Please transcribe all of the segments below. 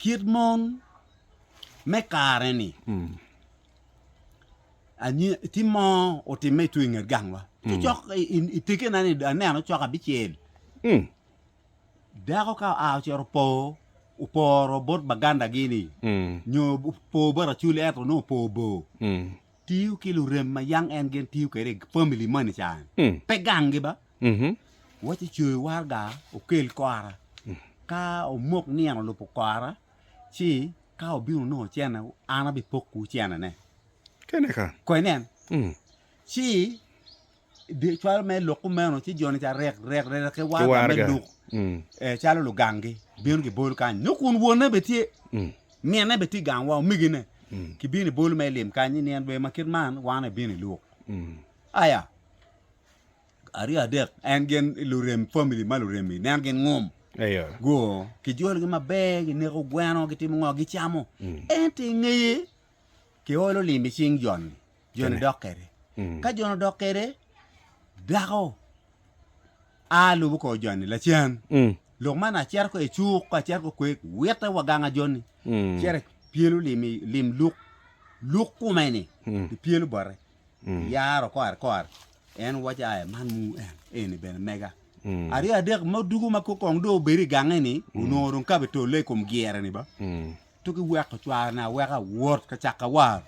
Kit mon me kare-ni, tye mo otimme tung i nget gangwa. Cok i tekena-ni aneno cok abicel. Dako ka oa ocito opo, oporo bot bagandagi-ni nyo opo bot acwali ento nongo opo bor, tiyo ki lurem ma yam en gin tiyo kwede i pamili moni ca-ni, pe ganggi ba. Wacci coyo waraga okel kora, ka omok nino olubo kora ci ka obino nongo ocene an abipoko ocenene. Kene ka. Ko inen. Mm. Ci cwalo me lok kumeno ci joni ca rek rek rek ki waraga me luk mm. e, calo lugangi bino gibolo kany nyo kun wonne be tye mm. minne be tye gang wa omigine mm. kibino ibolo me lim kany ni en be ma kit man wan ebino iluk mm. aya aryo adek en gin lurem famili ma lurem-mi nen gin ngom goo kijologi maber gineko gweno gitimo ngo gicamo ento i ngeye kiolo lim i cing joni, joni dok kwede ka joni odok kwede dako a lubo kor joni lacan lok man acito ko i cuk ka acito ko kwek witte wa ganga joni cito epyelo lim luk luk kume-ni epyelo bote yaro kore kore en waco aya man mu en eni bene mega aryo adek mo dugu ma kong do obedo i gange ni onongo dong kabe tole i kom gyere ni ba to ki weko cware na weka wot ka caka war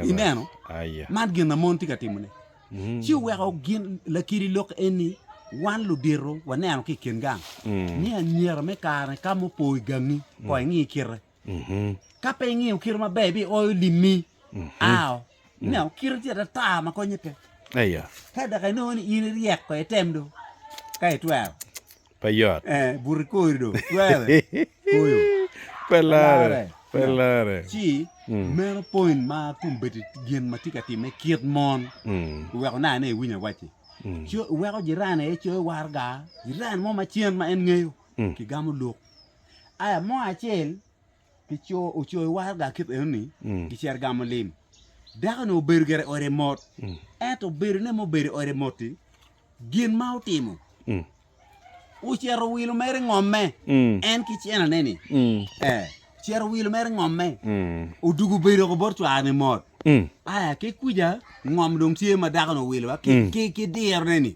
ineno man gin na mon tye ka timo ne ci weko gin lakiri lok eni wan ludito waneno ki kin gang ni anyira me kare ka mupo i gangi kong ingi kite Ka pe ingiyo kite maber ibioyo limmi ao. Ineno kite tye atata ma konye pe. Ka dok inongo ni in iryek ko item do ka itwero. Pe yot. Eh, buti kori do twere. Koyo. Pe lare. Pe lare. Ci meno point ma kombeddi gin ma tye ka timme kit mon iweko nai ne iwinyo awacci. Iweko jirani aye coyo warga, jirani mo macen ma en ngeyo kigamo luk. Aya mo acel ocoyo waraga kit enoni, gicito gamo lim. Dako-ni obedo gire i ode mot, ento bedone ma obedo i ode mot-ti, gin ma otimo ocito owilo mere ngomme, en ki cene-ne-ni ocito owilo mere ngomme, odwogo obedo woko bot cware-ni mot. Aya ki kwica ngom dong tye ma dako-ni owilo ki dirone-ni,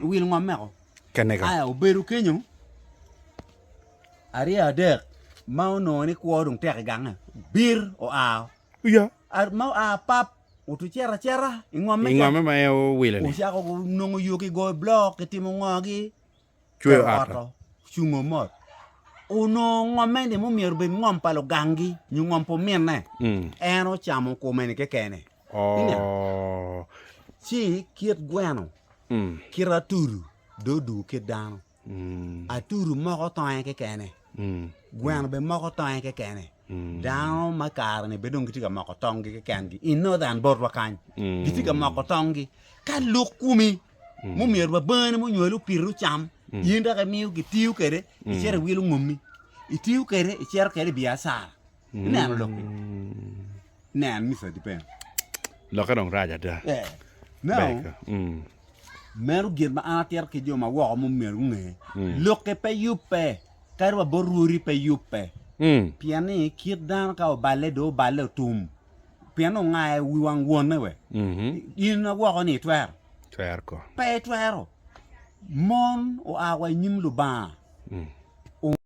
owilo ngomme woko. kenega. Aya obedo kenyo arye adek ma onongo ni kwo dong tek i gange, bir oa ma oa pap otucito acita i ngomme ca, ocako nongo yo ki goyo blok ki timo ngo ki cweyo ot o, cungo mot onongo ngomme ni ma omyero obed ngom pa lugangi nyo ngom pa ominne en ocamo kome ni kekene. Ci kit gweno, kit atudu dong odwogo kit dano. Atudu moko tonge kekene, gweno bene moko tonge kekene. Dano ma kare-ni bene dong gitye ka moko tongngi kekengi i Northern botwa kany, gitye ka moko tongngi. Ka lok komi ma omyero ba bangani ma onywali opiti ocam, in dok imiyo kitiyo kwede icito iwilo ngommi, itiyo kwede icito kwede i biacara. Ineno lok-ki? Nen, Mister Dipeno. Lokke dong rac ada. Eh, Ber no, ka. Mm. meno gin ma an atito ki jo ma woko ma omyero gunge. Mm. Lokke pe yubbe, kadi wa bot rwodi pe yubbe. Mm. Pien ni kit dano ka oballe, dong oballe otum. Pien ongayo wi wang wonne we. Mhm. In ma woko ni itwero? Twer ko. Pe itwero. Mon oa wa i nyim Lubanga. Mm.